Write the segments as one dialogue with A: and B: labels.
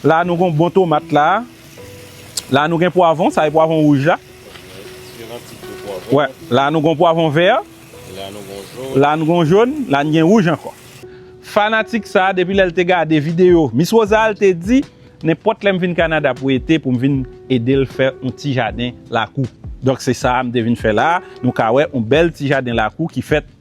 A: La nou gon bon tomat la. La nou gen pwavon. Sa e pwavon wouj la. La nou gon pwavon vè. La nou gon joun. La nou gen wouj ankò. Fanatik sa depi lè l te gade videyo Miss Rosal te di nenpòt lè m vin Kanada pou ete pou m vin ede l fè yon ti jaden lakou. Donk se sa m te vin fè la. Nou ka wè yon bèl ti jaden lakou ki fèt.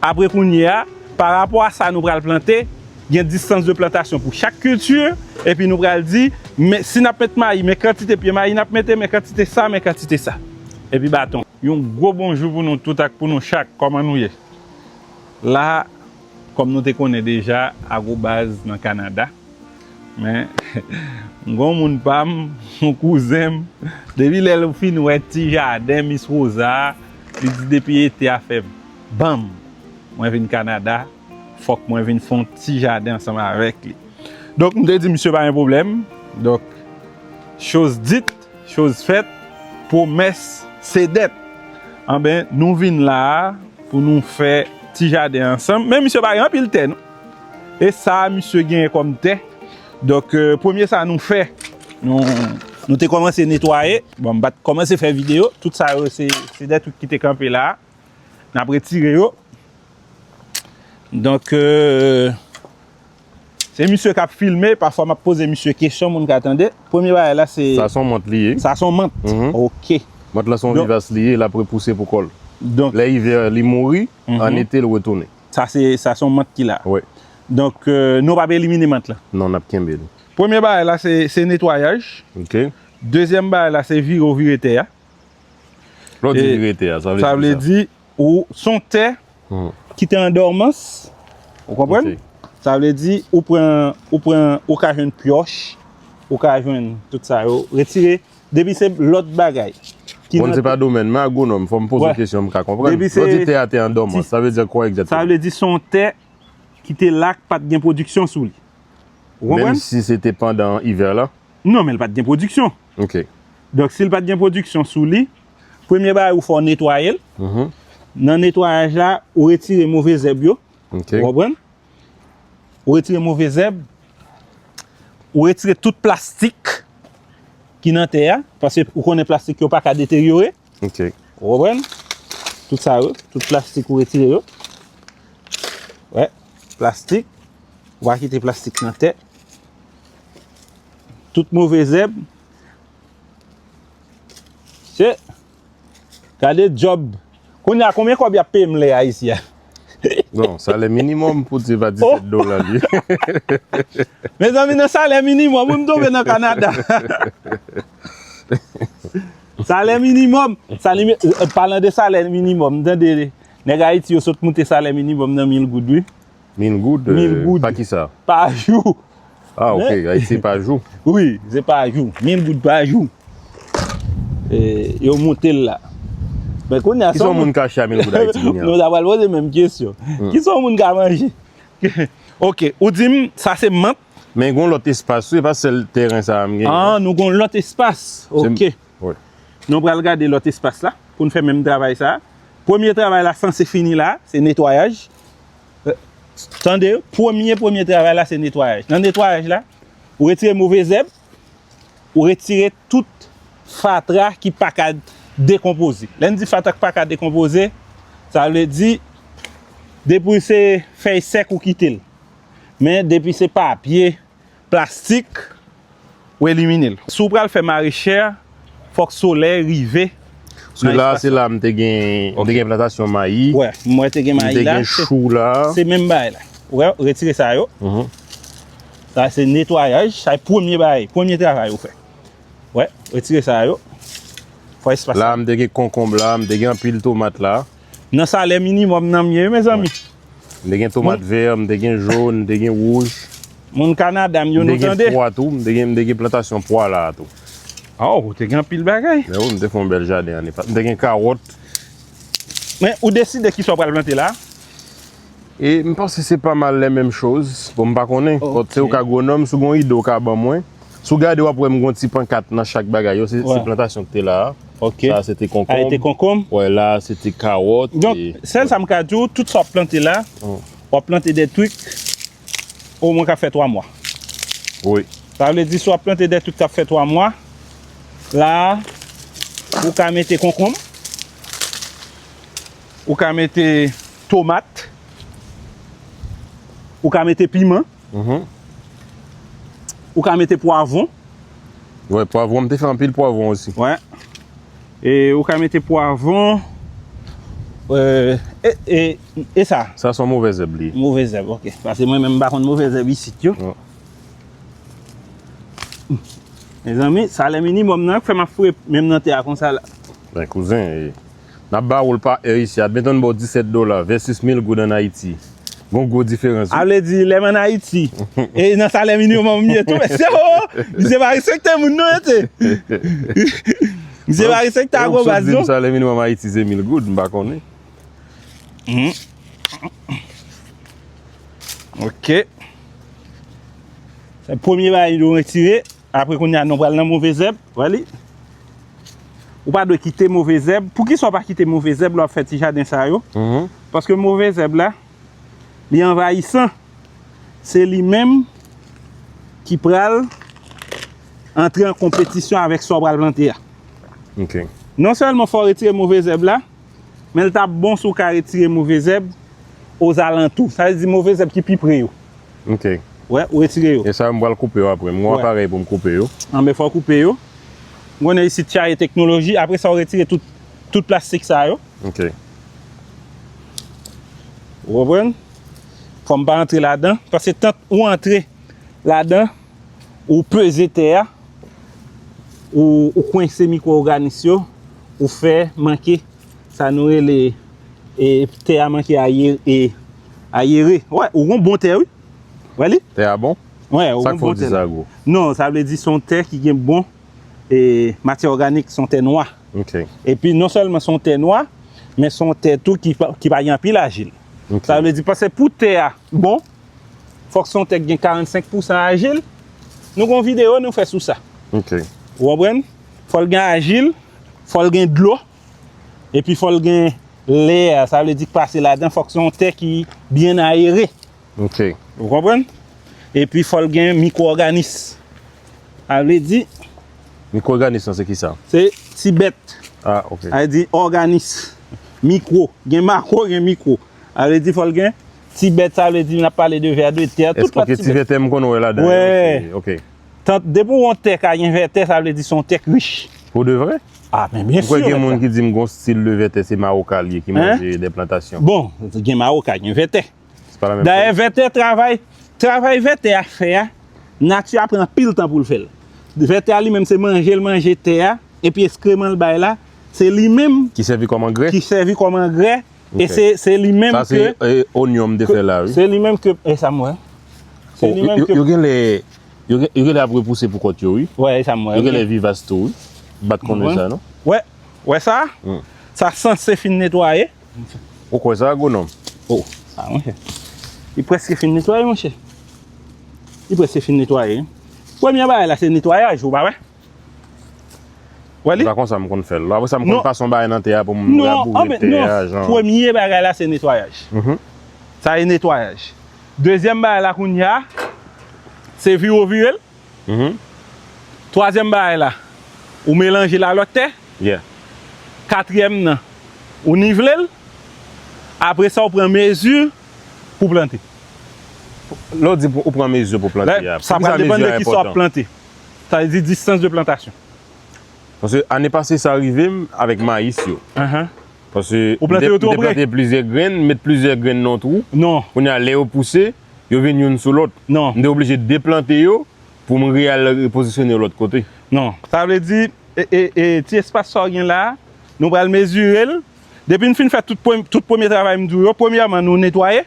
A: Apre kounye a, pa rapò a sa nou pral plante, gen distans de plantasyon pou chak kilti, epi nou pral di, men si n ap met mayi, men kantite pye mayi n ap mete, men kantite sa, men kantite sa. Epi baton. Yon gwo bonjou pou nou tout ak pou nou chak, kòman nou ye? La, kòm nou te konnen deja, Agrobaz nan Kanada. Men, m gen yon moun pa m, yon kouzen m, depi lè l fin wè ti jaden Mis Rosa a, li di depi ete a fè. Banm! Mwen vin Kanada, fòk mwen vin fon ti jaden ansanm avèk li. Donk m te di misye pa gen pwoblèm. Donk, choz dit, choz fèt, pwomès se dèt. Anben, nou vin la a pou nou fè ti jaden ansanm. Men misye pa gen anpil tè non. E sa a misye genyen kòm tè. Donk, premye sa nou fè, nou te kòmanse netwaye. Bon, m pa t kòmanse fè videyo. Tout sa yo se dè twik ki te kanpe la a. N ap retire yo. Donk, se misye k ap filme, pafwa m ap poze misye kesyon moun ka tande. Premye bagay la se... Sa son mant li ye. Sa
B: son mant?
A: Ok. Mant la son vivas
B: li ye, l ap repouse pou kò l. Donk... Lè ivè
A: li mouri,
B: an ete l retounen. Sa se, sa son mant
A: ki la? Wi. Donk, nou pa p elimine mant la? Non, n ap kenbe li.
B: Premye bagay la
A: se netwayaj. Ok.
B: Dezyèm bagay
A: la se vire ou vire tè a.
B: Lò di li rete a, sa vle di ki sa? Sa vle di,
A: ou, son tè, ki te an dòmans, ou konprann? Sa vle di, ou pran, ou pran, ou ka jwenn pyòch, ou ka jwenn tout sa yo, retire, depi se lòt bagay. Bon, se pa
B: domèn mwen, agwonòm, fò m poze kesyon m ka konprann. Lò di tè a te an dòmans, sa vle di kwa egzatèman? Sa vle di son
A: tè ki te la k pa t gen pwodiksyon sou li. Ou konprann? Menm
B: si se te pandan ivè la? Non, men li pa t gen
A: pwodiksyon. Ok.
B: Donk si l pat gen
A: pwodiksyon sou li, premye bagay ou fè w netwaye l. Nan netwayaj la, ou retire move zèb yo. Ok. Ou konprann? Ou retire move zèb, ou retire tout plastik ki nan tè a, paske ou konnen plastik yo pa ka deteryore. Ok. Ou konprann? Tout sa yo, tout plastik ou retire yo. Wè, plastik. Ou pa kite plastik nan tè. Tout move zèb. Se. Kade job. Koun ya konbyen kob ya pem le a isi ya? Non,
B: sa le minimum pou di va 17 do la li.
A: Mezanmi nan sa le minimum, ou m tonbe nan Kanada. Salè minimòm, palan de salè minimòm, tande, nèg Ayiti yo sot moute salè minimòm nan mil goud wi. Mil goud?
B: Mil goud. Pa ki sa?
A: Pa
B: jou.
A: Ah ok,
B: Ayiti pa jou? Wi, se pa
A: jou. Mil goud pa jou. E, yo moute l la. Men kounye a, sa w moun... Ki sa w moun ka achte a mil goud
B: Ayiti kounye a? Nou ta pral poze menm
A: kesyon. Ki sa w moun ka manje? Ok, ou di m, sa se mant? Men gon lòt espas
B: wi, e pa sèl tèren sa a m genyen. Ah nou gon lòt
A: espas, ok. Wi.
B: Nou pral gade
A: lòt espas la pou n fè menm travay sa a. Premye travay la sanse fini la a, se netwayaj. Tande, premye premye travay la se netwayaj. Nan netwayaj la, ou retire move zèb, ou retire tout fatra ki pa ka dekonpoze. Lè n di fatra ki pa ka dekonpoze, sa vle di depi se fèy sèk ou kite l. Men depi se papye, plastik, ou elimine l. Si w pral fè marechè, fòk solèy rive nan espas la. Se la,
B: se la m te gen, m te gen plantasyon mayi. Wè, m wè te gen mayi
A: la. M te gen chou la. Se
B: menm bagay la.
A: Wè, retire sa yo. Sa se netwayaj. Sa e premye bagay, premye travay ou fè. Wè, retire sa yo. Fè espas la. La m te gen konkonb
B: la, m te gen anpil tomat la. Nan salè
A: minimòm nan m ye wi mezanmi. M te gen tomat
B: vè, m te gen jòn, m te gen wouj. Moun Kanada
A: m yo nou tande. M te gen pwa tou,
B: m te gen plantasyon pwa la a tou. A ou te gen
A: anpil bagay. Mè wi m te fè yon bèl jaden
B: ane pase. M
A: te gen kawòt. Men
B: ou
A: deside
B: kisa ou
A: pral
B: plante la
A: a?
B: E m panse se pa mal lè menm choz. Bon m pa konnen. Bòt se ou k agwonòm sou gon ide ou ka ban mwen. Sou gade w ap wè m gon ti pankat nan chak bagay yo. Se plantasyon k te la a. Ok. Sa a se te
A: konkonm. A e te
B: konkonm. Wè
A: la a se te
B: kawòt. Donk sèl sa m
A: ka di w tout sa w ap plante la. W ap plante de twik o mwen k ap fè 3 mwa. Wi.
B: Sa vle di si w
A: ap plante de twik k ap fè 3 mwa. La a ou ka mete konkonm. Ou ka mete tomat. Ou ka mete piman. Ou ka mete pwavon. Wè
B: pwavon m te fè anpil pwavon osi. Wè.
A: E ou ka mete pwavon. E sa. Sa son move zèb
B: li. Move zèb ok. Pase
A: mwen men m pa konn move zèb isit yo. Mezanmi salè minimòm nan k fè m ap fwe menm nan tè a konsa la. Mwen kouzen
B: e. Nap ba oul pa è isi a byen tann baw 17 dola vèsis mil goud an ayiti gon gwo diferans wi. A vle di lèm an
A: ayiti e nan salè minimòm m ye tou mesye oo misye pa respekte moun non mesye misye pa respekte agro baz non. Ou sot dim salè minimòm ayiti se
B: mil goud m pa konnen.
A: Ok se premye bagay nou retire. Apre kounye a nou pral nan move zèb. Wè li? Ou pa dwe kite move zèb. Poukisa ou pa kite move zèb lè w ap fè ti jaden sa yo? Paske move zèb la, li anvayisan. Se li menm ki pral antre an konpetisyon avèk sa w pral plante a.
B: Non sèlman
A: fò w retire move zèb la, men l t ap bon si w ka retire move zèb ozalantou. Sa vle di move zèb ki pi pre yo. Ok. Wè,
B: ou retire
A: yo. E sa yo m pral koupe yo apre.
B: M gen yon aparèy pou m koupe yo. Anben fè w koupe
A: yo. M konnen isit Chaye Teknoloji. Apre sa ou retire tout tout plastik sa yo. Ok.
B: Ou
A: konprann? Fò m pa antre ladan. Paske tant ou antre ladan, ou peze tè a, ou kwense mikwo oganis yo, ou fè manke sa nou rele e tè a manke a ye e. Ayere. Wè, ou gon bon tè wi. Wè li? Tè a bon?
B: Wè, ou gon bon tè la. Sa k fè
A: w di sa gwo?
B: Non, sa vle di se yon
A: tè ki gen bon e matyè òganik, se yon tè nwa. Ok. Epi
B: non sèlman
A: se yon tè nwa, men se yon tè tou ki pa gen anpil ajil. Ok. Sa vle di paske
B: pou
A: tè a bon, fòk se yon tè ki gen 45 pousan ajil. Nou gon videyo nou fè sou sa. Ok. Ou
B: konprann?
A: Fò l gen ajil, fò l gen dlo, Epi fòl gen l'air, sa vle di k pase ladan fòk se yon tè ki byen ayere. Ok.
B: Ou konprann?
A: Epi fòl gen mikwo òganis. Sa vle di. Mikwo òganis
B: lan se ki sa? Se ti bèt.
A: Ah ok. Sa vle
B: di òganis.
A: Mikwo. Gen makwo gen mikwo. Sa vle di fòl gen ti bèt sa vle di nap pale de vè de tè. Tout pati bèt. Eske ti vè tè m konn
B: wè ladan yo? Wè. Ok.
A: Tant
B: depi w wè yon
A: tè ka gen vètè sa vle di se yon tè k rich. Pou de vre?
B: Ah men byen sur mèt la. Ou kwè gen
A: moun ki di m gon
B: stil de vètè se maroka l ye ki manje de plantasyon. Bon gen maroka
A: gen vètè. Se pa la menm chòz. Dayè
B: vètè travay,
A: travay vètè a fè a nati a pran anpil tan pou l fè l. Vètè a li menm se manje l manje tè a epi eskreman l bay la se li menm. Ki sèvi kòm angrè. Ki
B: sèvi kòm angrè
A: E se se li menm ke Sa se e onyon
B: m te fè la wi. Se li menm ke e sa
A: m
B: wè. Se
A: li menm ke Yo genlè
B: yo genlè ap repouse pou kont yo wi. Wè e sa m wè. Yo genlè
A: vivas tou wi.
B: M pat konnen sa non. Wè wè sa?
A: Sa sanse fin netwaye. Ou kwè sa
B: agwonòm? Oh sa monchè.
A: Li prèske fin netwaye monchè. Li prèske fin netwaye. Premye bagay la se netwayaj ou pa wè.
B: Wè li? Se pa konsa m konn fè l. Apresa m konn pase yon bagay nan tè a pou m raboure tè a jan. Non, premye bagay
A: la se netwayaj. Sa se netwayaj. Dezyèm bagay la kounya se vire w vire l. Twazyèm bagay la ou melanje l a lòt tè.
B: Katriyèm
A: nan ou nivele l. Apresa w pran mezi pou plante.
B: Lè w di ou pran mezi pou plante a, poukisa mezi a
A: enpòtan? Sa vle di distans de plantasyon. Paske
B: ane pase sa rive m avèk mayis yo. Paske m te plante
A: plizyè grenn, m met
B: plizyè grenn nan yon twou. Kounye a lè yo
A: pouse,
B: yo vin youn sou lòt. M te oblije
A: deplante
B: yo pou m re-al repozisyone yo lòt kote. Non. Sa vle di,
A: ti espas sa w gen la a, nou pral mezire l. Depi n fin fè tout premye travay m di w yo, premyèman nou netwaye.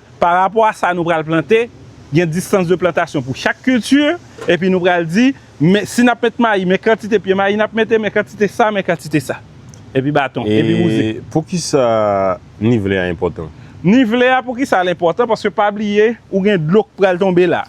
A: Pa rapò a sa nou pral plante, gen distans de plantasyon pou chak kilti, epi nou pral di, men, si n ap met mayi, men kantite pye mayi n ap mete, men kantite sa, men kantite sa. Epi baton, epi mouzik. E poukisa
B: nivele a enpòtan? Nivele a, poukisa
A: l enpòtan? Paske pa bliye, ou gen dlo k pral tonbe la.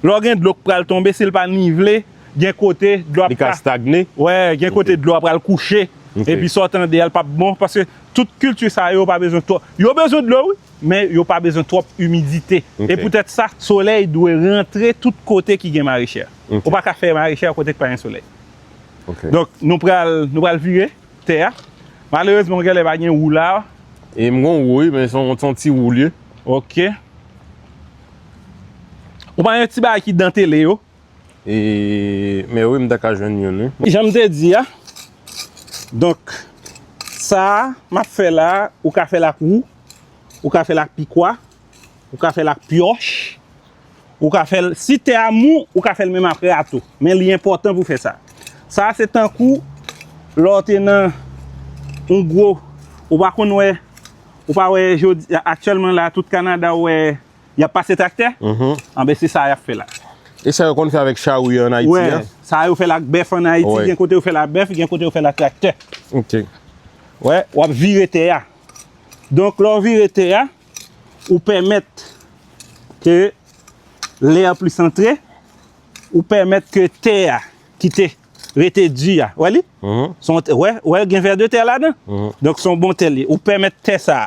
A: Lè w gen dlo k pral tonbe si l pa nivle gen kote dlo ap ka stagne wi
B: gen kote dlo
A: a pral kouche epi sa w tande a l pap bon paske tout kilti sa yo pa bezwen twòp yo bezwen dlo wi men yo pa bezwen twòp imidite e poutèt sa solèy dwe rantre tout kote ki gen marechè ou pa ka fè marechè kote k pa gen solèy donk nou pral nou pral vire tè a malerezman gen lè pa gen wou la e m gen wou
B: wi men son ti wou l ye ok.
A: Ou pa yon ti bagay ki dantele yo?
B: Mè wi m ta ka jwenn youn wi. Jan m te di a,
A: donk sa m ap fè la a, ou ka fè l ak wou, ou ka fè l ak pikwa, ou ka fè l ak pyòch, ou ka fè l, si tè a mou, ou ka fè l menm aprè a tou. Men li enpòtan pou w fè sa. Sa a se tankou lè w te nan yon gwo, ou pa konn wè. Ou pa wè jodi, aktyèlman la tout Kanada ou wè y ap pase traktè? Anben se sa y ap fè la. E sa yo konn fè
B: avèk charou yo an Ayiti an? Wè, sa yo fè l ak bèf an
A: Ayiti, gen kote yo fè l ak bèf, gen
B: kote
A: yo fè l ak traktè. Ok.
B: Wè,
A: w ap vire tè a. Donk lè w vire tè a, ou pèmèt ke lè a plis antre, ou pèmèt ke tè a kite. rete di a wè li son tè wè wè gen vè de tè ladan donk son bon tè li ou pèmèt tè sa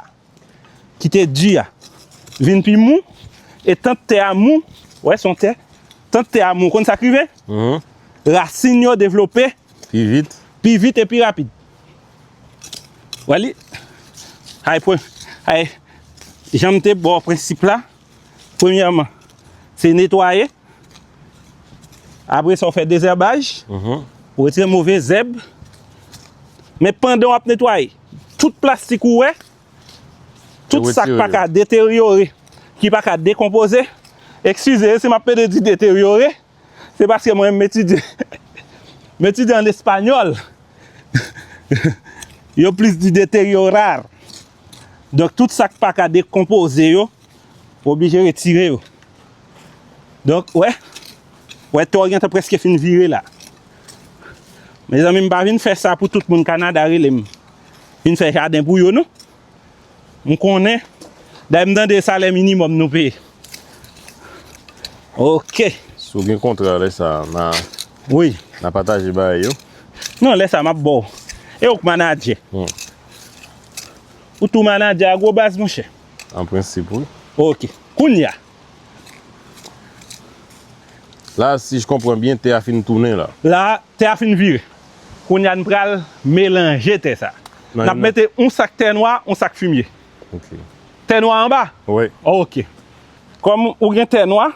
A: ki te di a vin pi mou e tant tè a mou wè son tè tant tè a mou konn sak rive rasin yo devlope pi vit
B: pi vit e pi rapid
A: wè li hay pwen hay janm te baw prensip la. Premyèman, se netwaye. Apre sa ou fè dezèbaj. Ou retire move zèb. Men pandan ou ap netwaye, tout plastik ou wè, tout sa k pa ka deteryore, ki pa ka dekonpoze, ekskize si m ap pede di deteryore, se paske mwen m etidye, m etidye an espanyòl, yo plis di deteriorar. Donk tout sak pa ka dekonpoze yo ou oblije retire yo. Donk wè, wè to gen tan preske fin vire la. Mezanmi m pa vin fè sa pou tout moun Kanada rele m vin fè jaden pou yo non. M konnen, dayè m tande salè minimòm nou peye. Ok. Si w gen kontra
B: lè sa na Wi. Na
A: pataje bay
B: yo. Non lè sa m ap
A: ba w. E ou k manadjè. Ou tou manadjè Agrobase monchè? An prensip wi.
B: Ok. Kounye
A: a.
B: La si j konpran byen tè a fin tounen la. La a tè a fin
A: vire. Kounye a n pral melanje tè sa. N ap mete yon sak tè nwa yon sak fimye. Ok.
B: Tè nwa
A: anba? Wi. Ok. Kòm ou gen tè nwa,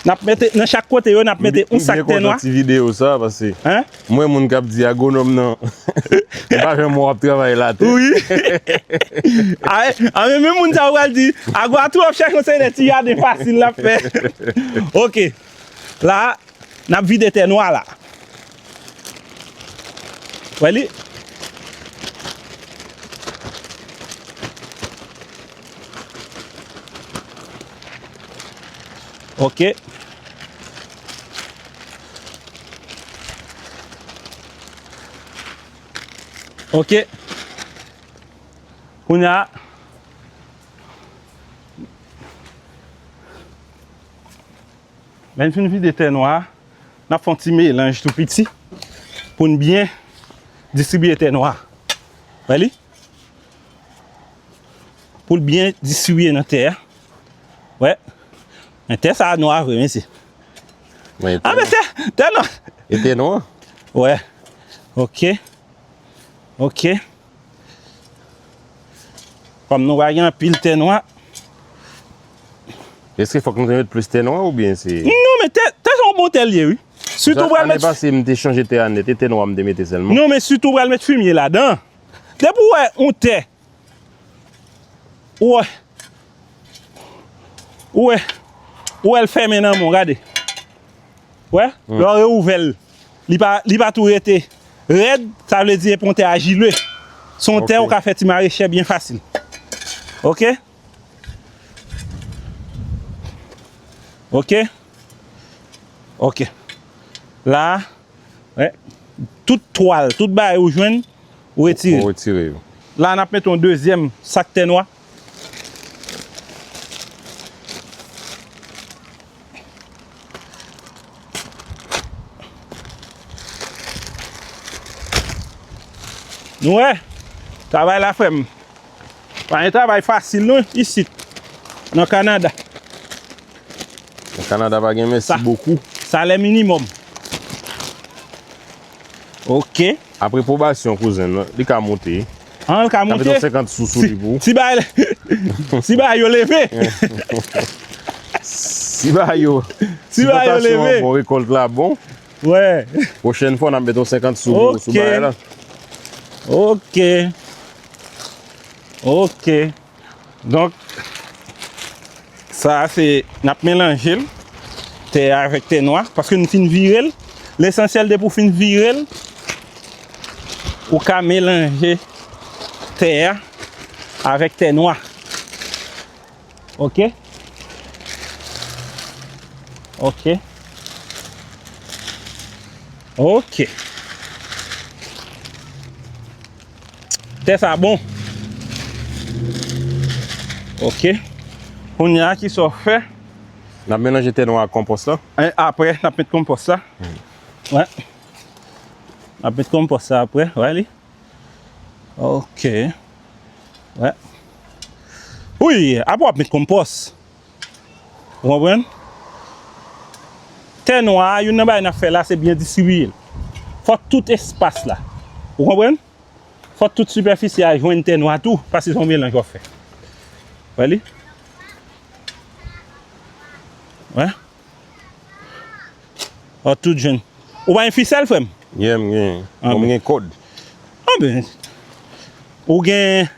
A: nap mete nan chak kote yo nap mete yon sak tè nwa. M byen kontan ti video sa pase
B: m wè moun kap
A: di
B: agronòm nan pa janm wè wap travay latè. Wi
A: a men menm moun sa yo pral di agro a twòp chè konsèy lè ti jaden fasil lap fè. Ok la nap vide tè nwa la. Wè li? Ok. Ok. Kounye a. Lè n fin vide tè nwa a. N ap fè yon ti melanj tou piti pou n byen distribye tè nwa. Wè li? Pou l byen distribye nan tè a. Wè? Men tè sa a nwa vre mesye. A mesye! Tè nwa! E tè nwa?
B: Wè.
A: Ok. Ok. Kòm nou pa gen anpil tè nwa.
B: Eske fòk nou te met plis tè nwa ou byen se. Non men tè sa
A: yon bon tè li ye wi. Sitou ou pral met. Ane pase m te chanje
B: tè a nèt e tè nwa m te mete sèlman. Non men sitou ou pral met
A: fimye ladan. Depi ou wè yon tè. Ou wè. Ou wè. Ou wè l fèmen nan men w gade. Ou wè. Lè w reouvè l. li pa tou rete rèd, sa vle di e pon tè ajile. Se yon tè ou ka fè ti marechè byen fasil. Ok. Ok. Ok. La, tout twal, tout bay ou jwenn, ou retire. Ou retire yo. La,
B: n ap mete yon
A: dezyèm sak tè nwa. Nou wè, travay la frè m. Pa yon travay fasil non isit, nan Kanada.
B: Nan Kanada pa gen mèsi bokou. Salè minimòm.
A: Ok. Apre pwobasyon
B: kouzen nan, li ka moute. Ah, l ka moute? Ka
A: mete 50 sous sou li pou ou.
B: Si bagay,
A: si bagay yo leve.
B: Si bagay yo, si plantasyon an
A: bon, rekòlt la
B: bon. Wè.
A: Pwochèn fwa, n ap
B: mete yon 50 sous pou ou sou bagay la. Ok.
A: Ok. Donk, sa a se, n ap melanje l, tè a avèk tè nwa, paske nou fin vire l. Lesansyèl depi ou fin vire l, ou ka melanje tè a avèk tè nwa. Ok? Ok? Ok! Tè sa bon. Ok. Kounye a ki sa w fè? N ap
B: melanje tè nou ak konpòs la. E apre n ap met
A: konpòs la. Wè. N ap met konpòs la apre. Wè li. Ok. Wè. Ouyy! Apre w ap met konpòs. Ou konprann? Tè nwa a, youn nan bagay n ap fè la, se byen distribiye l. Fòk tout espas la. Ou konprann? Fòk tout sipèfisi a jwenn tè nwa tou, paske se yon melanj w ap fè. Ou wè li? Wè? Fòk tout jwenn. Ou pa gen fisèl, frè m? Ye, m gen.
B: Bon, m gen kòd. Anben.
A: Ou gen,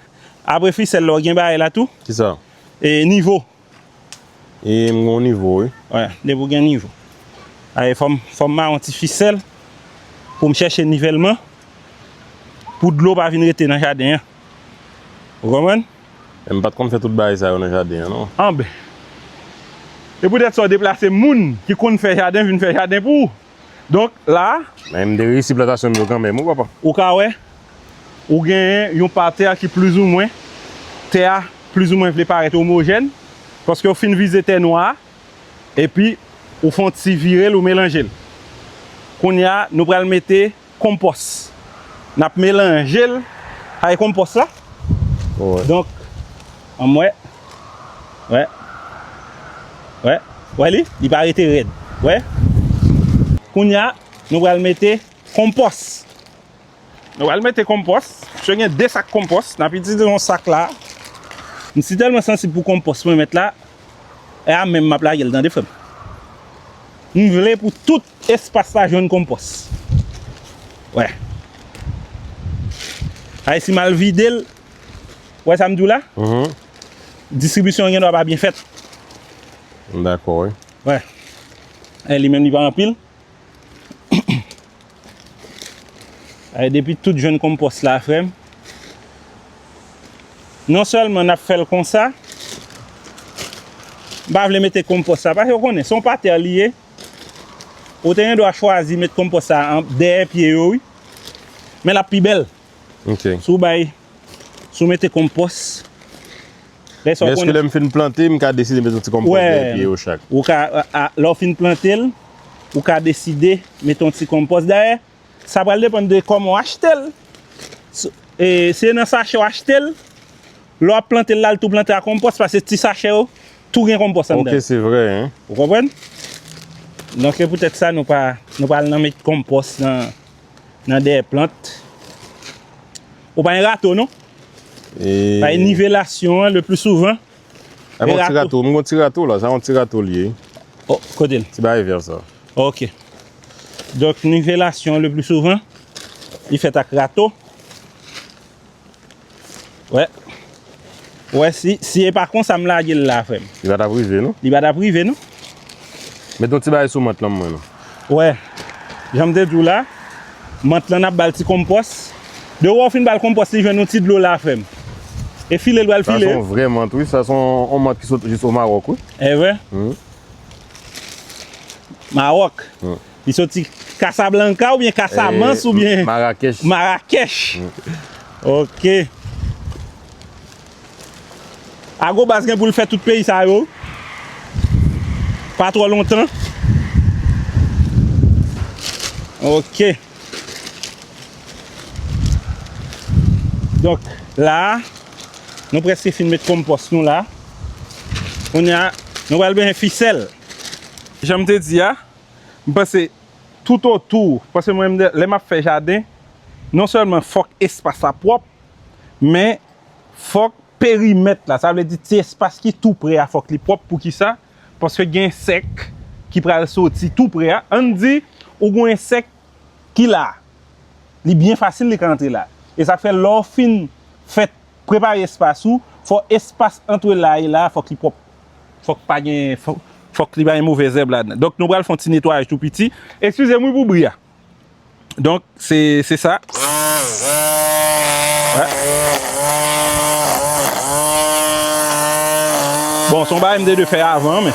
A: apre fisèl la, ou gen bagay la tou? Ki sa? E
B: nivo.
A: E
B: m gon nivo wi. Wè, depi ou gen
A: nivo. Ae fòm fòm maron ti fisèl pou m chèche nivèlman pou dlo pa vin rete nan jaden an. Ou konprann? E m pat konn
B: fè tout bagay sa yo nan jaden an non. Anben.
A: E poutèt sa ou deplase moun ki konn fè jaden vin fè jaden pou ou. Donk la. Men m te reyisi
B: plantasyon m yo kanmenm wi papa. Ou ka wè,
A: ou genyen yon pati a ki plizoumwen, tè a plizoumwen vle parèt omojèn, paske ou fin vize tè nwa a, epi ou fè yon ti vire l ou melanje l. Kounye a nou pral mete. konpòs nap melanjel kay konpòs la donk anmwè wè wè wè li li pa rete rèd wè kounya nou pral mete konpòs nou pral mete konpòs misye gen 2 sak konpòs nap itilize yon sak la msi tèlman sansib pou konpòs mwen met la e a menm map lagel tande frèm mvle pou tout Espas la jwenn konpòs. Wè. Ay si mal vide l. Wè sa m di w la? Distribisyon an gen dwa pa byen fèt. M
B: dakò wi. Wè.
A: Ay li menm li pa anpil. Ay depi tout jwenn konpòs la frè m. Non sèlman n ap fè l konsa. M pa vle mete konpòs la. Pase w konnen se yon pa tè li ye. Ou te gendwa chwazi met konpòs sa a dèyè pye yo wi. Men l ap pi bèl. Ok. Si w
B: bay,
A: si w mete konpòs.
B: Lè sa w konnen. Men èske lè m fin plante, m ka deside met yon ti konpòs dèyè pye yo chak? Wè, ou ka,
A: lè w fin plante l, ou ka deside met yon ti konpòs dèyè. Sa pral depann de kòman w achte l. E se nan sachè w achte l, lè w ap plante l la, l tou plante a konpòs paske ti sachè yo tou gen konpòs anndan yo. Ok, se vre hein.
B: Ou konprann?
A: Donk se poutèt sa nou pa nou pa al nan met konpòs nan dèyè plant. Ou pa gen rato non. E.
B: Paske nivelasyon
A: an le pli souvan. E bon ti
B: rato, m gon ti rato la, sa yon ti rato li ye. O, kote l?
A: Ti bagay vè sa.
B: Ok.
A: Donk nivelasyon le pli souvan, li fèt ak rato. Wè. Wè si, si e pa konsa m lage l la frè m. Li pa t ap rive non. Li
B: pa t ap rive non.
A: Met yon
B: ti bagay sou mant lan m wè non. Ou wè,
A: jan m te di w la, mant lan n ap ba l ti konpòs. De wè w fin ba l konpòs li jwenn yon ti dlo la fèm. E file l pral file. Sa se yon vrè mant wi.
B: Sa se yon mant ki sot jis o Mawòk wi. E vre?
A: Mawòk. Li soti Kasablanka oubyen Kasamans oubyen. Marakèch. Marakèch. Ok. Ago baz gen pou l fè tout peyi sa yo pa twò lontan ok donk la nou prèske fin met konpòs nou la kounye a nou pral bezwen fisèl jan m te di a m panse toutotou paske mwen lè m ap fè jaden non sèlman fòk espas la pwòp men. Fòk perimèt la, sa vle di ti espas ki tou pre a fòk li pwòp pou ki sa? Paske gen ensèk ki pral soti tou pre a, ann di ou gen yon ensèk ki la, li byen fasil li ka antre la. E sa k fè lè w fin fè prepare espas ou, fò espas antre la e la fòk li pwòp. Fòk pa gen, fòk li pa gen move zèb ladan. Donk nou pral fè yon ti netwayaj tou piti. Ekskize m wi pou bri a. Donk se se sa. Bon son ba MD2 fè avan men.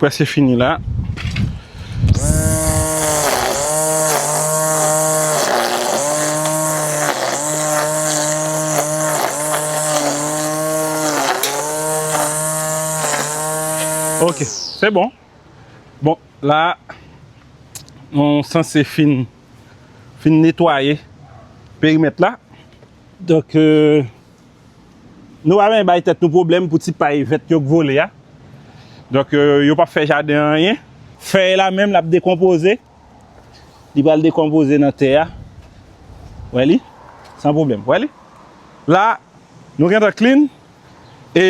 A: Preske fini la. Ok se bon. Bon la nou sanse fin netwaye perimet la. Donk. Nou pa benyen bay tèt nou pwoblèm pou ti pay vèt yo k vole a. Donk yo pap fè jaden an anyen. Fèy la menm lap dekonpoze. Li pral dekonpoze nan tè a. Wè li? San pwoblèm. Wè li? La nou gentan clean. E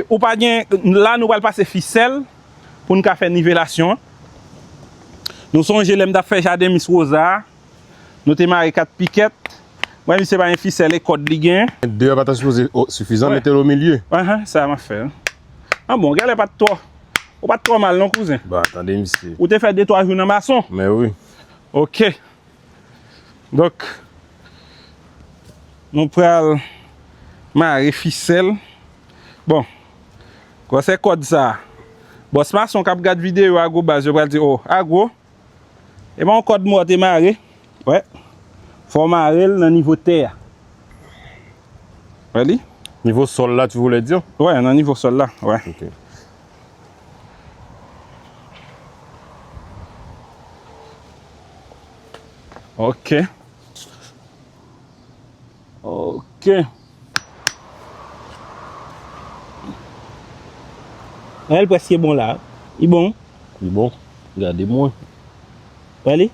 A: ou pa gen, la nou pral pase fisèl pou nou ka fè nivelasyon an. Nou sonje lèm tap fè jaden Miss Rosa a. Nou te mare 4 pikèt. Wè misye pa gen fisèl e kòd li gen. 2 a pa ta sipoze
B: sifizan, mete l o milye.
A: Aha,
B: sa a m ap fè.
A: An bon, gèlè pa t twò. Ou pa t twò mal non kouzen. Bon, tande misye.
B: Ou te fè de twa jou nan
A: mason. Men wi.
B: Ok.
A: Donk, nou pral mare fisèl. Bon, gwosè kòd sa a. Bòs mason k ap gad videyo Agwobaz yo pral di, o, Agwo, E ba w kòd mò te mare. Wè. Fò w mare l nan nivo tè a. Wè li? Nivo sòl la tu
B: vle di? Wè, nan nivo sòl la.
A: Wè. Ok. Ok. Ok. Wè l preske bon la. Li bon? Li bon.
B: Gade mwen.
A: Wè li?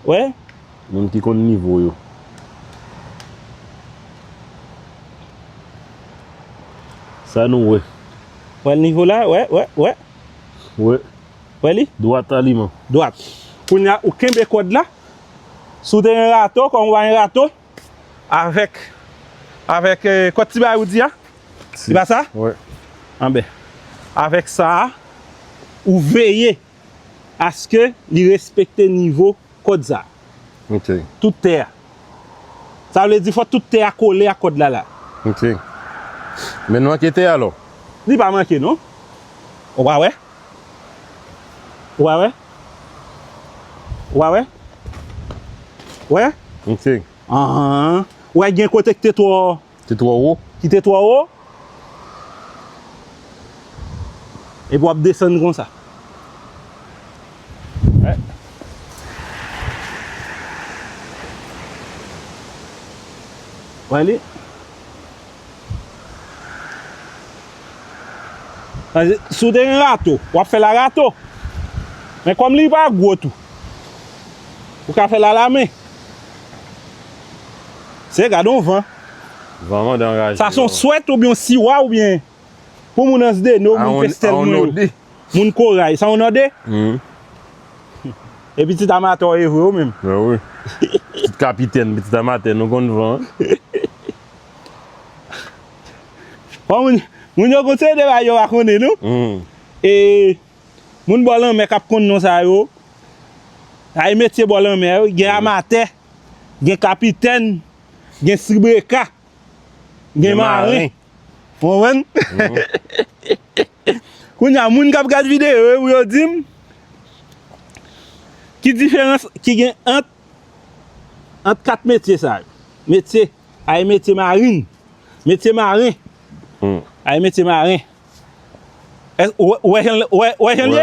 A: Wè? Moun ki konn
B: nivo yo. Sa nou wè? Wè l nivo
A: la? Wè, wè, wè.
B: Wè.
A: Wè li? Dwat aliman.
B: Dwat.
A: Kounya ou kenbe kòd la. Si w te yon rato, kòm ou pa yon rato, avèk, avèk kòt ti bagay ou di a, se pa sa? Wi. Anben, avèk sa a, ou veye aske li respekte nivo kòd sa a. Ok. Tout
B: tè a.
A: Sa vle di fòk tout tè a kole ak kòd la la. Ok.
B: Men l manke tè alò? Li pa manke non.
A: Ou pa wè? Wa wè? Wa wè?
B: Wè? Ok. Anhan.
A: Wè gen kote ki te twò. Te twò wo. Ki
B: te twò wo.
A: Epi wap desann konsa. Wè. Wè li? Si w te gen rato, w ap fè l a rato. Men kòm li pa gwo tou, ou ka fè l a lamen. Se, gade yon van. Van mande
B: anraje yo. Sa se yon swèt oubyen
A: yon siwa oubyen pou moun Ansdeno, moun Pestèl mwen yo. Moun Koray. Sa yon nòde? E pitit amatè w ye vre ou menm? Pitit
B: kapitèn, pitit amatè nou konn van.
A: Bon moun, moun yo konn se de bagay yo pa konnen non. E moun bò lanmè kap konn non sa yo. Ay metye bò lanmè yo, gen amatè, gen kapitèn, gen sibreka, gen maren. Ou konprann? Kounya moun kap gad videyo yo pou yo dim ki diferans ki gen ant ant 4 metye sa yo. Metye. Ay metye marin! Metye maren! Ay metye maren! Ou wè jan l ye?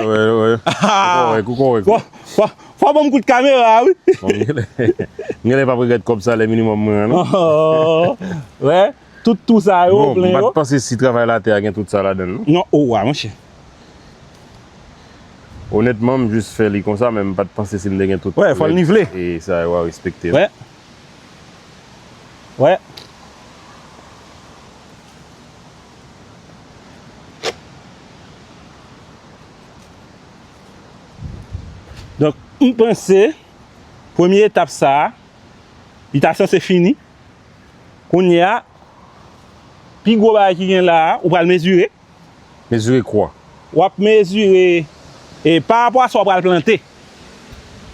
A: Fò w ban m kout kamera a wi!
B: M genlè pap regrèt kòb salè minimòm mwen an non!
A: Wè, tout twou sa yo ou plen yo. Bon, m pa t panse
B: si travay latè a gen tout sa ladan l non. Non, ou wa monchè. Onètman, m jis fè li konsa men m pa t panse si m te gen tout. Wè, fò l nivle. E
A: sa yo a respekte.
B: Wè,
A: Wè. Donk, m panse, premye etap sa, li ta sanse fini. Kounye a, pi gwo bagay ki gen la a, ou pral mezire. Mezire
B: kwa. W ap mezire
A: e parapò a sa w pral plante.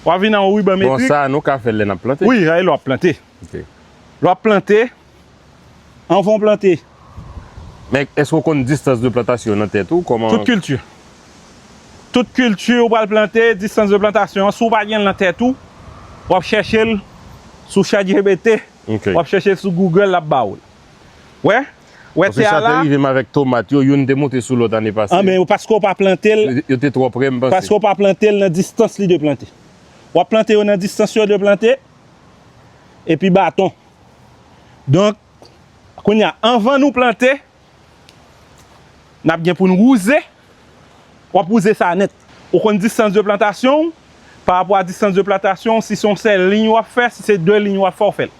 A: W ap vin nan yon riban metrik. Bon, sa a nou ka fè l lè n ap
B: plante? Wi, lè w ap plante.
A: Ok. Lè
B: w ap plante,
A: anvan w plante. Men,
B: èske w konn distans de plantasyon yo nan tè tou? Kòman. Tout kilti.
A: Tout kilti ou pral plante, distans de plantasyon an, si w pa gen l nan tè tou, w ap chèche l sou chatjipiti. Ok. W ap chèche l sou Google, l ap ba ou l. Ou wè? Wè tè a la. Paske sa te rive m avèk
B: tomat yo, youn te moute sou lòt ane pase. Anben, paske w pa
A: plante l. Yo te twò pre, m panse.
B: Paske w pa plante l nan
A: distans li dwe plante. W ap plante yo nan distans yo dwe plante, epi baton. Donk, kounye a, anvan nou plante, n ap gen pou n wouze. Wap wouze sa nèt. Ou konn distans de plantasyon w, pa rapò a distans de plantasyon w, si se yon sèl liy wap fè, si se 2 liy wap fè w fè l.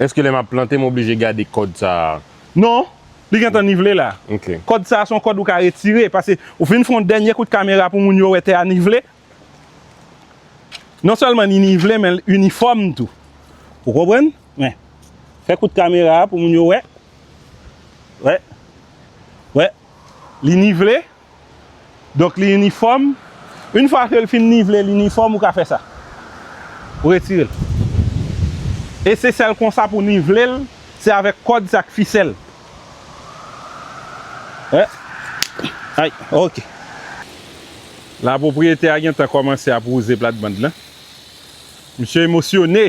A: Eske lè map
B: plante m oblije gade kòd sa a? Non,
A: li gentan nivele la. Ok. Kòd sa a se yon
B: kòd ou ka
A: retire, pase ou fin fè yon dènye kout kamera pou moun yo wè tè a nivele. Non sèlman li nivele men l inifòm tou. Ou konprann? Men. Fè kout kamera a pou moun yo wè. Wè. Wè. li nivle, donk li inifòm, yn fwa ke li fin nivle, li inifòm, ou ka fè sa. Ou retire l. E se sèl konsa pou nivle l, se avèk kòd, se ak fisèl. Hè. Ay, ok. La pwopriyetè a gentan kòmanse ap wouze platband lan. Misye emosyone!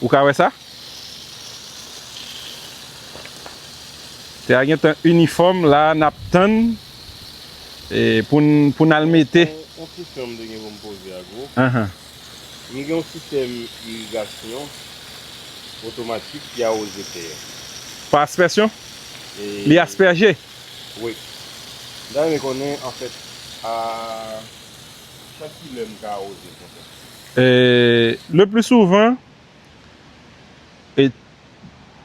A: Ou ka wè sa? Tè a gentan inifòm la nap tann pou n al mete. Yon kesyon m te
B: gen pou m poze ak ou. Nou gen yon sistèm irigasyon otomatik ki awoze tè a. Pa aspèsyon?
A: Li aspèje? Wi.
B: M ta renmen konnen anfèt a chak kilè m ka awoze yon tè? Le pli
A: souvan,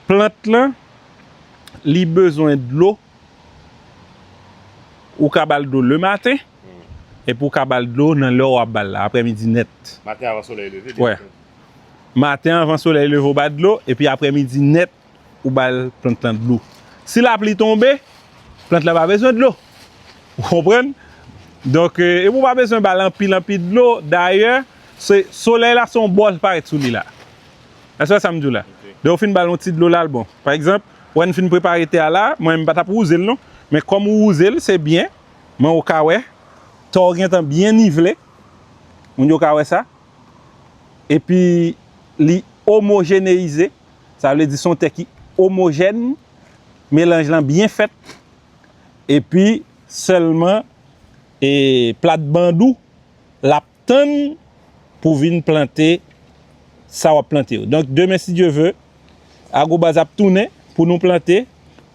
A: plant lan, li bezwen dlo, ou ka bal dlo le maten, epi ou ka bal dlo nan lè ou ap bal la, aprè midi nèt. Maten avan solèy
B: leve, byen antann.
A: Maten avan solèy leve ou ba dlo, epi aprè midi nèt, Ou bay plant lan dlo. Si lapli tonbe, plant la pa bezwen dlo. Ou konprann? Donk, epi ou pa bezwen ba l anpil anpil dlo. Dayè, solèy la se yon bò l parèt sou li la. Èske w wè sa m di w la? Lè ou fin ba l yon ti dlo la, l bon. Pa egzanp, wè n fin prepare tè a la, mwen m pa t ap wouze l non. Men kòm ou wouze l, se byen. Men ou ka wè, tè w gentan byen nivle. Moun yo ka wè sa. Epi, li omojeneize. Sa vle di son tè ki omojèn, melanj lan byen fèt, epi sèlman e plat band ou lap tann pou vin plante sa wap plante yo. Donk demen si Dye ve, Agro Base ap tounen pou nou plante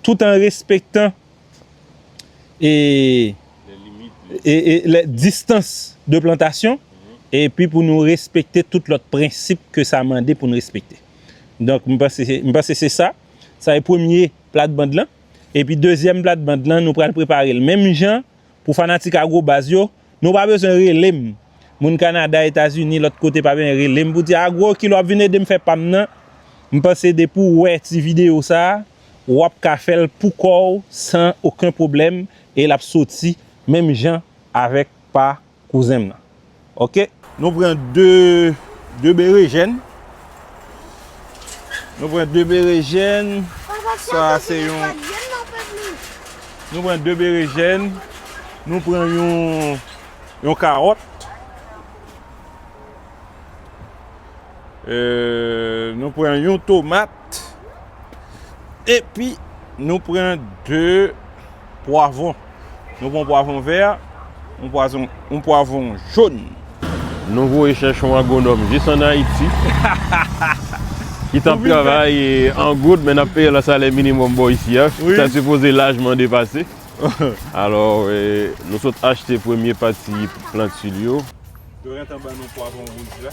A: tout an respektan distans de plantasyon epi pou nou respekte tout lòt prensip ke sa mande pou nou respekte. Donk m panse se sa, sa e premye plat band lan. Epi dezyèm plat band lan nou pral prepare l menm jan pou fanatik agro baz yo. Nou pa bezwen rele m. Moun Kanada, Etazini, lòt kote pa ben rele m pou di, Agro, kilè w ap vin ede m fè pa m nan? M panse depi w wè ti videyo sa a, w ap ka fè l pou kò w san oken pwoblèm e l ap soti menm jan avèk pa kouzen m nan. Oke. Nou pran 2 2 berejèn. Nou pran 2 berejèn. Sa a se yon Nou pran 2 berejèn. Nou pran yon yon karòt. Euh nou pran yon tomat. Epi nou pran 2 pwavon. Nou pran pwavon vè, yon pwavon joun. Nou voye
B: chèche yon agwonòm jis an Ayiti ki t ap travay an goud men n ap peye l an salè minimòm bò isi a. Sa sipoze lajman depase. Alò nou sot achte premye pati plantil yo. Yo gentan ban
A: nou pwavon wouj la.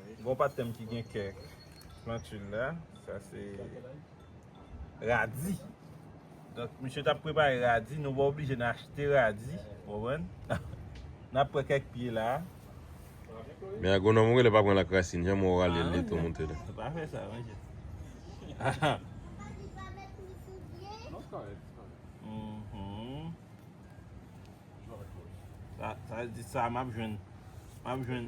B: Gon
A: patnèm ki gen kèk plantul la, sa se radi. Donk misye tap prepare radi, nou pa oblije nan achte radi, ou konprann? Nap pran kèk pye la.
B: Men agwonòm ou rele pa pran l ak rasin, jan mwen wè w rale l li tou monte la. Ou pa fè sa mesye.
A: Sa vle di sa map jwenn, map jwenn.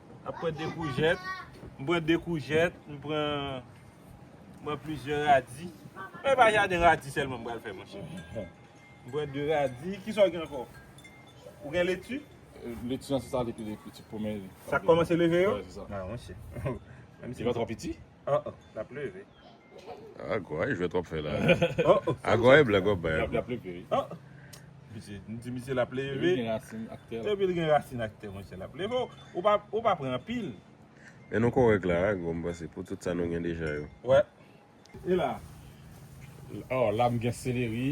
B: Ap pran 2 koujèt,
A: m pran 2 koujèt, m pran, m pran plizyè radi. Mwen pa jaden radi sèlman m pral fè mwen chè. M pran 2 radi, ki sa w gen ankò? Ou gen leti? Leti an se sa
C: li pi piti premye. Sa k kòmanse leve
A: yo? Wi se sa. Mwen chè. Li pa twò
C: piti? An an, l ap
A: leve. Ah,
B: Gwa e jwèt wap fè la. Ah, Gwa
A: e blag wap
B: bay a Gwa.
A: Misye, m di misye lap leve. Epi l gen rasin aktè.
C: Epi l gen rasin aktè
A: monchè lap leve. Ou pa, ou pa pran anpil. Men nou kòrèk
B: la a Gwa m panse pou tout sa nou gen deja yo. Wè.
A: E la?
C: Oh, la m gen seleri.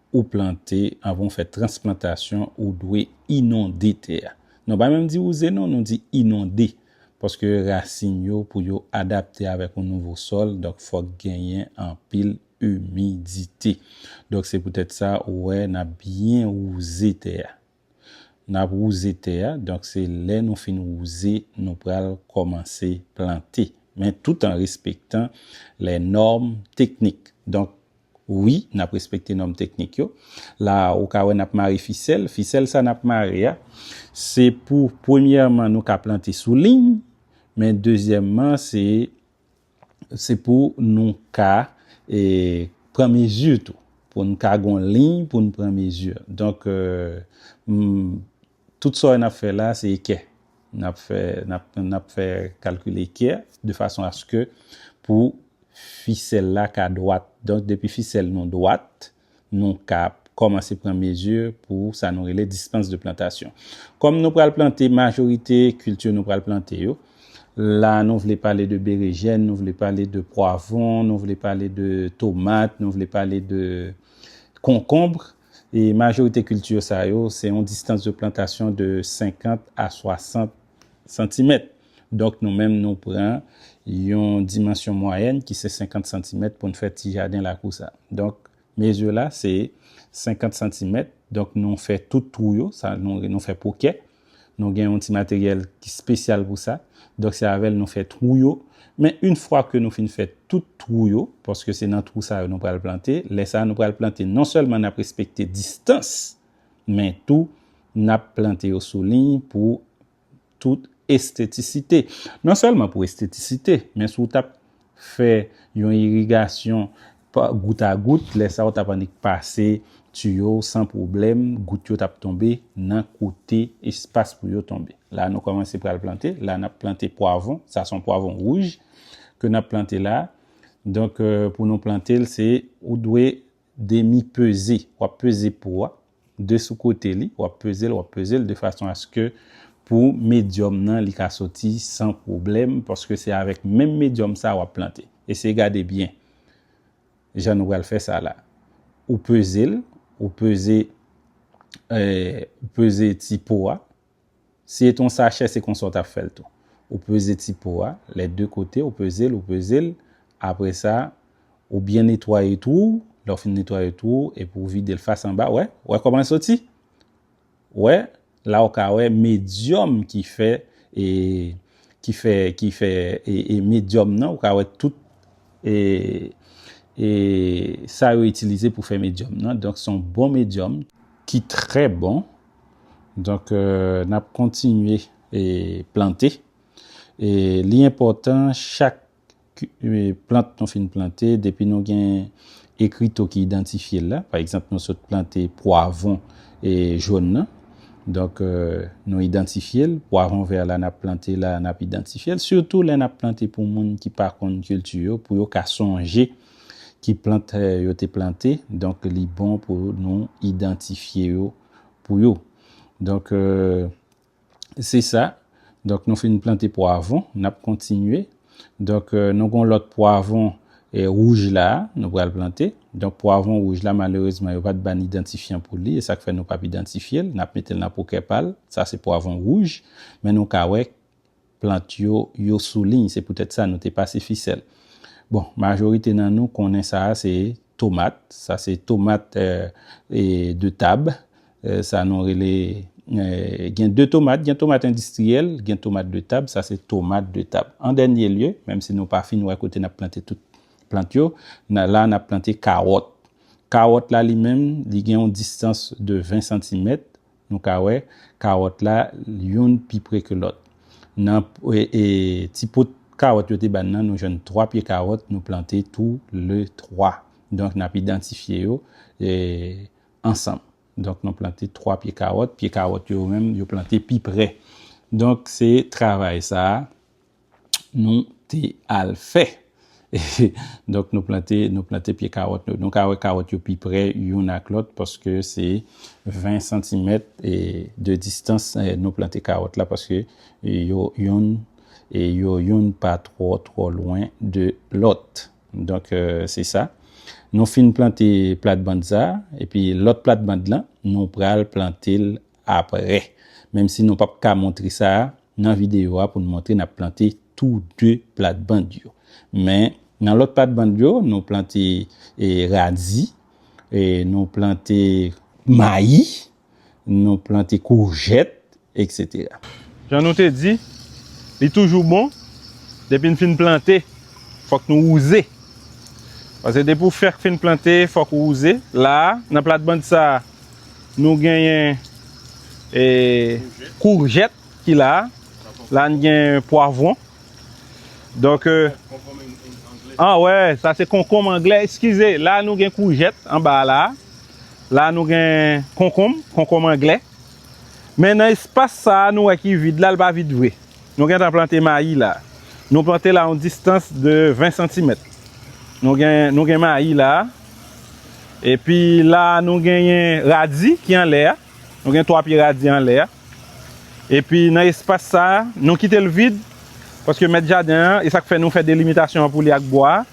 D: ou plante, anvan ou fè transplantasyon, ou dwe inonde tè a. Nou pa menm di wouze non, nou di inonde. Paske rasin yo pou yo adapte avèk yon nouvo sòl, donk fòk genyen anpil imidite. Donk se poutèt sa ou wè n ap byen wouze tè a. N ap wouze tè a, donk se lè nou fin wouze nou pral kòmanse plante, men tout an respektan lè nòm teknik. Donk, wi, n ap respekte nòm teknik yo. La a, ou ka wè n ap mare fisèl. Fisèl sa n ap mare a, se pou premyèman nou ka plante sou liy, men dezyèmman se. se pou nou ka pran mezi tou, pou n ka gen yon liy pou n pran mezi. Donk, tout sa w ap fè la, se ekè. N ap fè, n ap fè kalkil ekè, de fason aske pou fisèl la ka dwat. Donk, depi fisèl nou dwat, nou ka kòmanse pran mezi pou sa nou rele distans de plantasyon. Kòm nou pral plante majorite kilti nou pral plante yo, la nou vle pale de berejèn, nou vle pale de pwavon, nou vle pale de tomat, nou vle pale de konkonbr, e majorite kilti yo sa yo, se yon distans de plantasyon de 50 a 60 santimèt. Donk nou menm nou pran yon dimansyon mwayèn ki se 50 santimèt pou n fè ti jaden lakou sa. Donk mezi la se 50 santimèt. Donk nou fè tout twou yo, sa nou fè pokè. Nou gen yon ti materyèl ki spesyal pou sa. Donk se avè l nou fè twou yo. Men yn fwa ke nou fin fè tout twou yo, paske se nan twou sa yo nou pral plante, lè sa nou pral plante non sèlman n ap respekte distans men tou n ap plante yo sou liy pou tout estetisite. Non sèlman pou estetisite, men si w t ap fè yon irigasyon pa gout a gout, lè sa w t ap annik pase tiyo w san pwoblèm, gout yo t ap tonbe nan kote espas pou yo tonbe. La nou kòmanse pral plante, la n ap plante pwavon, sa se yon pwavon wouj ke n ap plante la, donk pou nou plante l se ou dwe demi peze, wap peze po a de sou kote li, wap peze l, wap peze l de fason aske pou medyòm nan li ka soti san pwoblèm paske se avèk menm medyòm sa wap plante. Eseye gade byen jan nou pral fè sa la. Ou peze l, ou peze, ou peze ti po a, Si e t on sachè se konsa w tap fè l tou. Ou peze ti po a, lè de kote, ou peze l, ou peze l, apre sa ou byen netwaye twou w, lè w fin netwaye twou w epi w vide l fas anba, wè, wè kòman l soti? Wè, la w ka wè medyòm ki fè e, ki fè, ki fè e, e medyòm nan, ou ka wè tout e, e sa yo itilize pou fè medyòm nan, donk s on bon medyòm, ki trè bon, Donk n ap kontinye plante. E li enpòtan chak plant nou fin plante, depi nou gen ekrito ki idantifye l la, pa egzanp nou sot plante pwavon jòn nan, donk nou idantifye l, pwavon vè la n ap plante la, n ap idantifye l, sitou lè n ap plante pou moun ki pa konn kilti yo, pou yo ka sonje. ki plant yo te plante, donk li bon pou nou idantifye yo pou yo. Donk, se sa. Donk, nou fin plante pwavon, n ap kontinye. Donk, nou gen yon lòt pwavon wouj la a, nou pral plante. Donk, pwavon wouj la, malerezman, yo pa t ban idantifyan pou li, e sa k fè nou p ap idantifye l, n ap mete l nan pokè pa l. Sa se pwavon wouj, men nou ka wè plant yo, yo sou liy, se poutèt sa nou te pase fisèl. Bon, majorite nan nou konnen sa a se tomat, sa se tomat de tab, sa nou rele, gen de tomat, gen tomat endistriyèl, gen tomat de tab, sa se tomat de tab. An dènye lye, menm si nou pa fin wè kote n ap plante tout plant yo, la n ap plante kawòt. Kawòt la li menm, li gen yon distans de 20 santimèt. Nou ka wè kawòt la youn pi pre ke lòt. Nan ti pot kawòt yo te ba n nan, nou jwenn 3 pye kawòt nou plante tou le 3. Donk n ap idantifye yo ansanm. Donk nou plante 3 pye kawòt. Pye kawòt yo menm yo plante pi pre. Donk se travay sa a. nou te al fè. Donk nou plante, nou plante pye kawòt nou. Nou ka wè kawòt yo pi prè youn ak lòt paske se 20 santimèt de distans nou plante kawòt la paske yo youn e yo youn pa twò twò lwen de lòt. Donk se sa. Nou fin plante platbann sa epi lòt platbann lan nou pral plante l aprè. Menm si nou pap ka montre sa nan videyo a pou n montre n ap plante tou 2 platband yo. Men nan lòt platband yo nou plante radi, nou plante mayi, nou plante koujèt etc. Jan nou te
A: di, li toujou bon depi n fin plante fòk nou wouze. Pase depi w fèk fin plante fòk ou wouze. La nan platband sa Nou genyen kourjèt ki la. La n gen pwavwon. Donk. An wè, sa se konkonm angle. Eskize, la nou gen kourjèt anba a la. La nou gen konkonm, konkonm angle. Men nan espas sa a nou wè ki vid la, l pa vid vre. Nou gen tan plante mayi la. Nou plante la yon distans de 20 santimèt. Nou gen mayi la. Epi la nou genyen radi ki anlè a. Nou gen 3 pye radi anlè a. Epi nan espas sa a, nou kite l vid. Paske mèt jaden an, e sa k fè nou fè delimitasyon an pou li ak bwa a.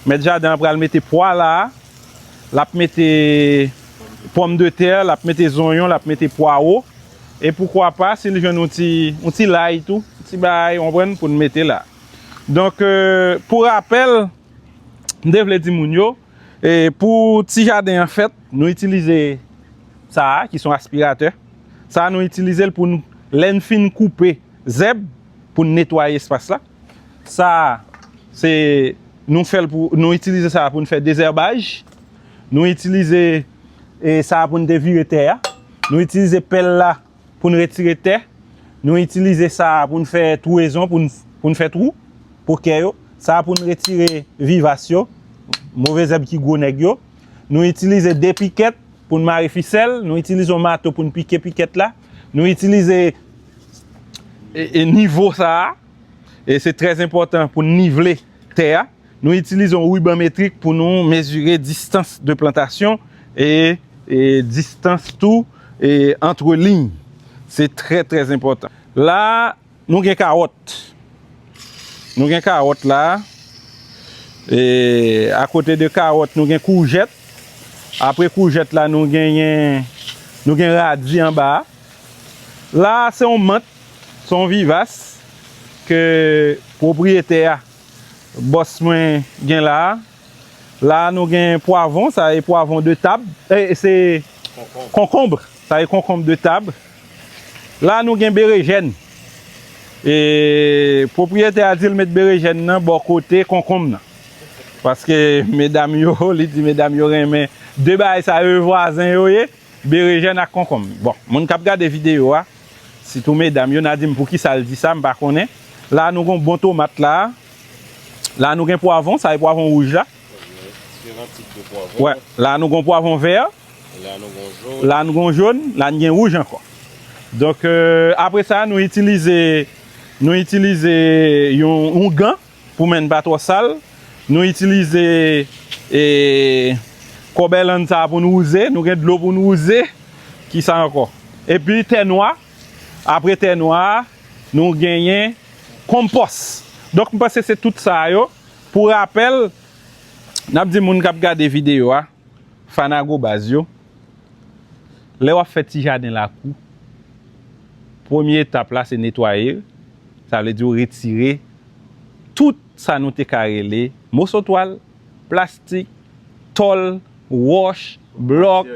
A: Mèt jaden an pral mete pwa la a. L ap mete pòm de tè, l ap mete zonyon, l ap mete pwawo. E poukwa pa, si l jwenn yon ti, yon ti lay tou, yon ti bagay, ou konprann, pou n mete la. Donk, pou rapèl. m te vle di moun yo, pou ti jaden an fèt, nou itilize sa a ki son aspiratè. Sa a nou itilize l pou n, lè n fin koupe zèb, pou n netwaye espas la. Sa a, se nou fè l pou, nou itilize sa a pou n fè dezèbaj. Nou itilize sa a pou n devire tè a. Nou itilize pèl la. pou n retire tè, nou itilize sa pou n fè twouezon, pou n fè twou pou kè yo, sa pou n retire vivas yo, move zèb ki gwo nèg yo, nou itilize de pikèt pou n mare fisèl, nou itilize yon mato pou n pike pikèt la, nou itilize nivo sa a, e se trè enpòtan pou n nivele. tè a. Nou itilize yon riban metrik pou nou mezire distans de plantasyon e distans tou antre liy. Se trè trè enpòtan. La a, nou gen kawòt. Nou gen kawòt la a. E akote de kawòt, nou gen koujèt. Apre koujèt la, nou genyen, nou gen radi anba a. La a, se yon mant. Son Vivas ke pwopriyetè a, bòs mwen gen la a. La a nou gen pwavon, sa e pwavon de tab, e se konkonb, sa e konkonb de tab. La a nou gen berejèn. E pwopriyetè a di l met berejèn nan bò kote konkonb nan. Paske medam yo, li di medam yo renmen 2 bagay sa yo e vwazen yo ye, berejèn ak konkonb. Bon, moun k ap gade videyo a. Sitou medam yo na dim poukisal di sa m pa konnen. La nou gon bon tomat la. La nou gen pwavon, sa e pwavon wouj la. Wè, la nou gon pwavon vè. La nou gon jon, la n gen wouj ankò. Donk apre sa nou itilize nou itilize yon gan Pou men n pa twò sal, nou itilize kòbèlann sa a pou n wouze. Nou gen dlo pou n wouze. Ki sa ankò? Epi tè nwa. Apre tè nwa a, nou genyen konpòs. Donk m panse se tout sa yo. Pou rapèl, n ap di moun k ap gade videyo a. Fanago baz yo, lè wap fè ti jaden lakou, premye etap la se netwaye l, sa vle di ou retire tout sa nou te ka rele moso twal, plastik, tòl, wòch, blòk,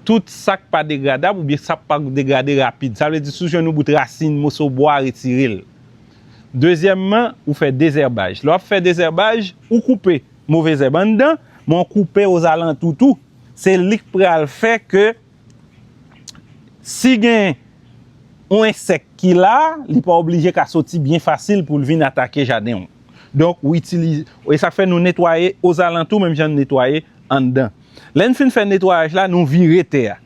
A: tout sak pa degradab oubyen sak pa degrade rapid, sa vle di si w jwenn yon bout rasin, moso bwa retire l. Dezyèmman ou fè dezèbaj, lè wap fè dezèbaj ou koupe. Move zèb anndan, m'en koupe ozalantou tou. Se li k pral fè ke si gen yon ensèk ki la, li pa oblije ka soti byen fasil pou l vin atake jaden w. Donk, ou itilize, e sa k fè nou netwaye ozalantou menm jan n netwaye anndan. Lè n fin fè netwayaj la, nou vire tè a.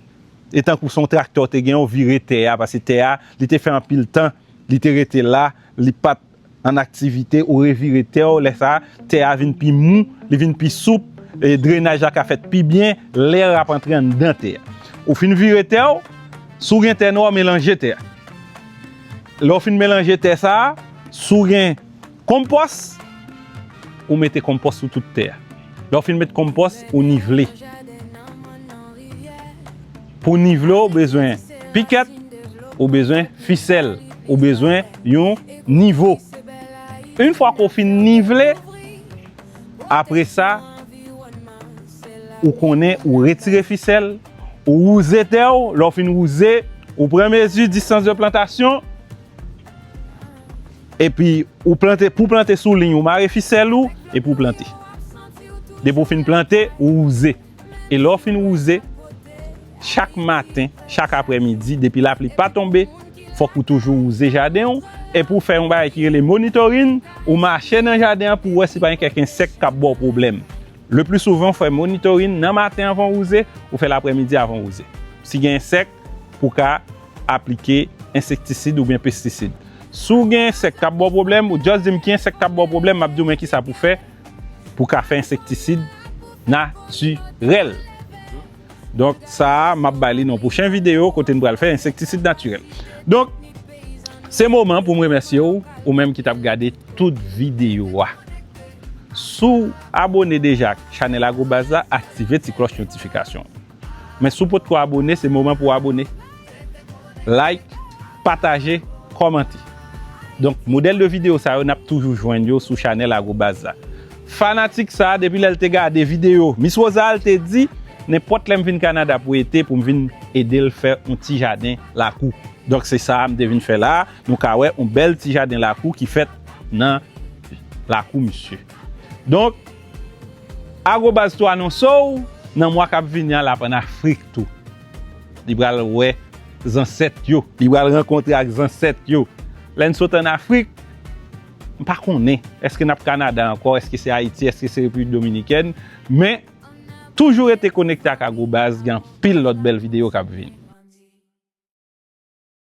A: E tankou se yon traktè w te gen, ou vire tè a, pase tè a, li te fè anpil tan, li te rete la, li pa t. an aktivite, ou revire tè ou, lè sa a, tè a vin pi mou, li vin pi soup, e drenaj la ka fèt pi byen, lè ap antre anndan tè a. Ou fin vire tè ou, si ou gen tè nwa, ou melanje tè a. Lè ou fin melanje tè sa a, si ou gen konpòs, ou mete konpòs sou tout tè a. Lè ou fin met konpòs, ou nivele. Pou nivle w bezwen pikèt, ou bezwen fisèl, ou bezwen yon nivo. Yn fwa ke w fin nivle, apre sa ou konnen ou retire fisèl, ou wouze tè w, lè w fin wouze, ou pran mezi distans de plantasyon, epi ou plante, pou w plante sou liy ou mare fisèl ou, epi ou plante. Depi w fin plante, ou wouze. E lè w fin wouze, chak maten, chak aprè midi, depi lapli pa tonbe, fòk ou toujou wouze jaden w, e pou w fè yon bagay ki rele monitorin, ou mache nan jaden an pou w wè si pa gen kèk ensèk k ap ba w pwoblèm. Le pli souvan ou fè monitorin nan maten avan w wouze, ou fè l aprè midi avan w wouze. Si gen ensèk, pou w ka aplike ensektisid oubyen pestisid. Si w gen ensèk k ap ba w pwoblèm, ou just di m ki ensèk k ap ba w pwoblèm, m ap di w men kisa pou w fè pou ka fè ensektisid natirèl. Donk sa a m ap bay li nan pwochen videyo kote m pral fè ensektisid natirèl. Donk se moman pou m remèsye ou, ou menm ki t ap gade tout videyo a. Si w abone deja ak chanèl Agro Baz la, aktive ti klòch notifikasyon an. Men si w potko abone se moman pou w abone, like, pataje, kòmante. Donk modèl de videyo sa yo n ap toujou jwenn yo sou chanèl Agrobaz la. Fanatik sa depi lè l te gade videyo Miss Rosale te di nenpòt lè m vin Kanada pou ete pou m vin ede l fè yon ti jaden lakou. Donk se sa m te vin fè la, nou ka wè yon bèl ti jaden lakou ki fèt nan lakou misye. Donk, Agobaz tou anonse w nan mwa k ap vini an l ap ann Afrik tou. Li pral wè zansèt yo. Li pral rankontre ak zansèt yo. Lè n sot ann Afrik, m pa konnen èske n ap Kanada ankò, èske se Ayiti, èske se Repiblik Dominikèn. Men, toujou rete konekte ak Agobaz, gen anpil lòt bèl videyo k ap vini.